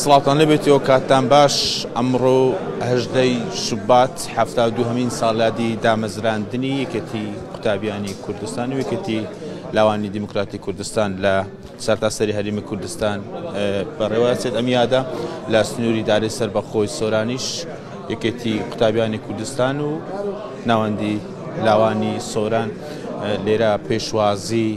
سڵاوتان لێبێتەوە کاتتان باش ئەمڕۆ هەژدەی شوبات حەفتا و دووهەمین ساڵیادی دامەزراندنی یەکێتی قوتابیانی کوردستان و یەکێتی لاوانی دیموکراتی کوردستان لە سەرتاسەری هەرمی کوردستان بەڕێوەچێت ئەم یادە لە سنووری دارێ سەر بەخۆی سۆرانیش یەکێتی قوتابیانی کوردستان و ناوەندی لاوانی سۆران لێرە پێشوازی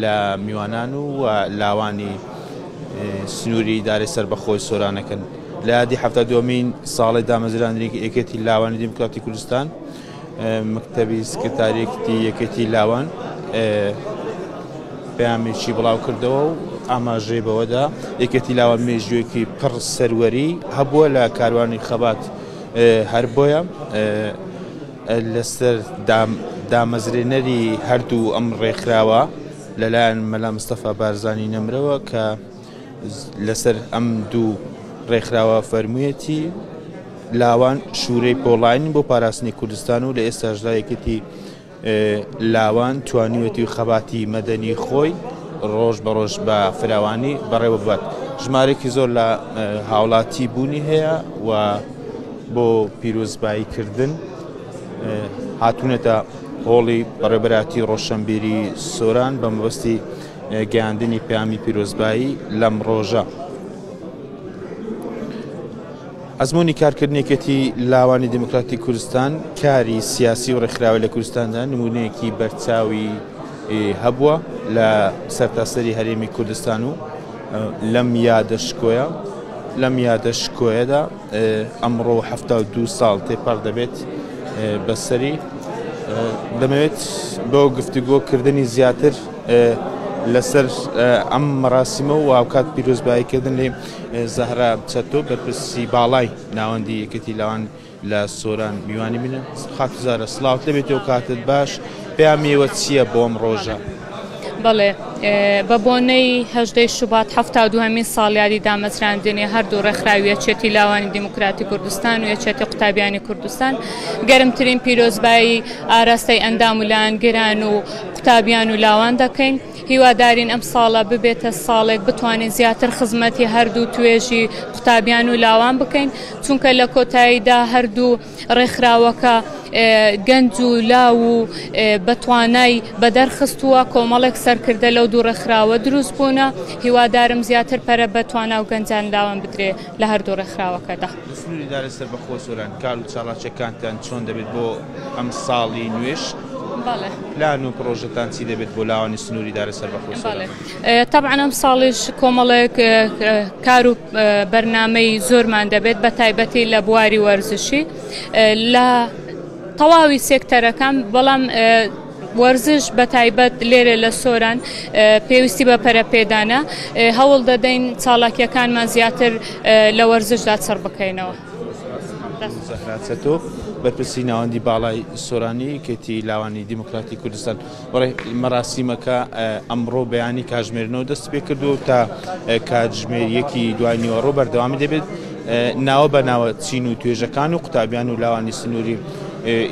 لە میوانان و لاوانی سنووری ئیدارەی سەربەخۆی سۆرانەکەن لە یادی حەفتا دومین ساڵی دامەزراندنی یەکێتی لاوانی دیموکراتی کوردستان مکتەبی سکرتاریەکتی یەکێتی لاوان پامێکی بڵاو کردەوە و ئاماژەی بەوەدا یەکێتی لاوان مێژوێکی پڕ سەروەری هەبووە لە کاروانی خەبات هەر بۆیە لەسەر دامەزرێنەری هەردوو ئەم ڕێکخراوە لەلایەن مەلا مستەفا بارزانی نەمرەوە کە لەسەر ئەم دوو ڕێکخراوە فەرموویەتی لاوان شوورەی پۆڵاین بۆ پاراستنی کوردستان و لە ئێستاشدا یەکێتی لاوان توانیوەتی خەباتی مەدەنی خۆی ڕۆژ بە ڕۆژ بە فراوانی بەڕێوە ببات ژمارێکی زۆر لە هاوڵاتی بوونی هەیە و بۆ پیرۆزبایی کردن هاتوونەتە هۆڵی بەڕێبەراتی ڕۆشنبیری سۆران بە مەبەستی گەیاندنی پامی پیرۆزبایی لەم ڕۆژە. ئەزمموی کارکردنێکێتی لاوانی دموکراتی کوردستان کاری سیاسی و ڕێکخراوە لە کوردستاندا نمونەیەکی بەرچاوی هەبووە لە سەرتاسەری هەرێمی کوردستان و لەم یادە شکۆیە لەم یادە شکۆیەدا ئەمڕۆ حەفتا و دوو ساڵ تێپەڕ دەبێت بەسەری دەمەوێت بۆ گفتوگۆ کردنی زیاتر لەسەر ئەم مەراسیمە و هاوکات پیرۆزباییکردن لێ زەهرا چەتۆ بەرپرسی باڵای ناوەندی یەکێتی لاوان لە سۆران میوانی منە. خاتو زارا سڵاوت لەبێتو کاتت باش پەیامی ئێوە چیە بۆ ئەم ڕۆژە؟ بەڵێ بە بۆنەی هەژدەی شوبات حەفتا و دووهەمین ساڵیادی دامەزراندنی هەردوو ڕێکخراوی یەکێتی لاوانی دیموکراتی کوردستان و یەکێتی قوتابیانی کوردستان گەرمترین پیرۆزبایی ئاراستەی ئەندام و لایەنگران و قوتابیان و لاوان دەکەین. هیوادارین ئەمساڵە ببێتە ساڵێک بتوانین زیاتر خزمەتی هەردوو توێژی قوتابیان و لاوان بکەین چونکە لە کۆتاییدا هەردوو ڕێکخراوەکە گەنج و لاو و بەتوانای بەدەرخستووە کۆمەڵێک سەرکردە لەو دوو ڕێکخراوە دروست بوونە هیوادارم زیاتر پەرە بە توانا و گەنجان لاوان بدرێ لە هەردوو ڕێکخراوەکەدا سنووری دارە سەربەخۆ سۆران کار و چالاکیەکانتان چۆن دەبێت بۆ ئەم ساڵی نوێش؟ پلان و پرۆژەتان چی دەبێت بۆ لاوانی سنووری دارە سەربەخۆی سۆران؟ تەبعەن ئەمساڵیش کۆمەڵێک کار و بەرنامەی زۆرمان دەبێت بە تایبەتی لە بواری وەرزشی لە تەواوی سێکتەرەکان بەڵام وەرزش بە تایبەت لێرە لە سۆران پێویستی بە پەرەپێدانە هەوڵ دەدەین چاڵاکیەکانمان زیاتر لە وەرزشدا چڕ بکەینەوە. زەهرا چەتۆ، بەرپرسی ناوەندی باڵای سۆرانی یەکێتی لاوانی دیموکراتی کوردستان، مەراسیمەکە ئەمڕۆ بەیانی کاتژمێرنۆ دەستیپێکردووە و تا کاتژمێر یەکی دوای نیوەڕۆ بەردەوامی دەبێت، ناوە بە ناوە چین و توێژەکان و قوتابیان و لاوانی سنووری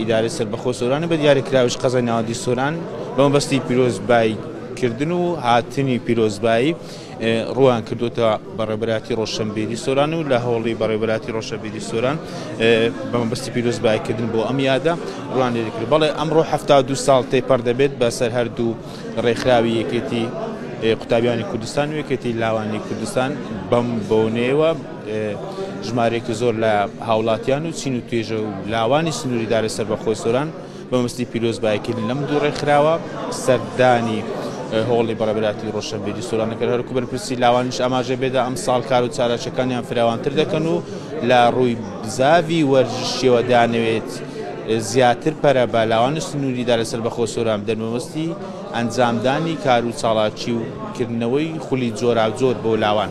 ئیدارەی سەربەخۆ سۆران و بە دیاریکراویش قەزای ناوەندی سۆران بەمەبەستی پیرۆزبایکردن و هاتنی پیرۆزبایی ڕوویان کردووەتە بەڕێوەبەرایەتی ڕۆشنبیری سۆران و لە هەوڵی بەڕێوەبەرایەتی ڕۆشنبیری سۆران بە مەبەستی پیرۆزباییکردن بۆ ئەم یادە ڕوویان لێ کرد بەڵێ ئەمڕۆ هەفتا و دوو ساڵ تێپەڕ دەبێت بەسەر هەردوو ڕێکخراوی یەکێتی قوتابیانی کوردستان و یەکێتی لاوانی کوردستان بەم بۆنەیەوە ژمارێکی زۆر لە هاوڵاتیان و چین و توێژە و لاوانی سنووری دارە سەر بەخۆی سۆران مەبەستی پیرۆزبایکردن لەم دوو ڕێکخراوە سەردانی هۆڵی بەڕێبەراتی ڕۆشنبیری سۆران کە هەرکو بەرپرسی لاوانیش ئاماژە بێدا ئەم ساڵ کار و چالاکیەکانیان فراوانتر دەکەن و لە ڕووی بزاوی وەرزشیەوە دانەوێت زیاتر پەرە بە لاوان سنووریدا لەسەر بەخۆ سۆران بدەن مەبەستی ئەنجامدانی کار و چاڵاکی و کردنەوەی خولی جۆراوجۆر بۆ لاوان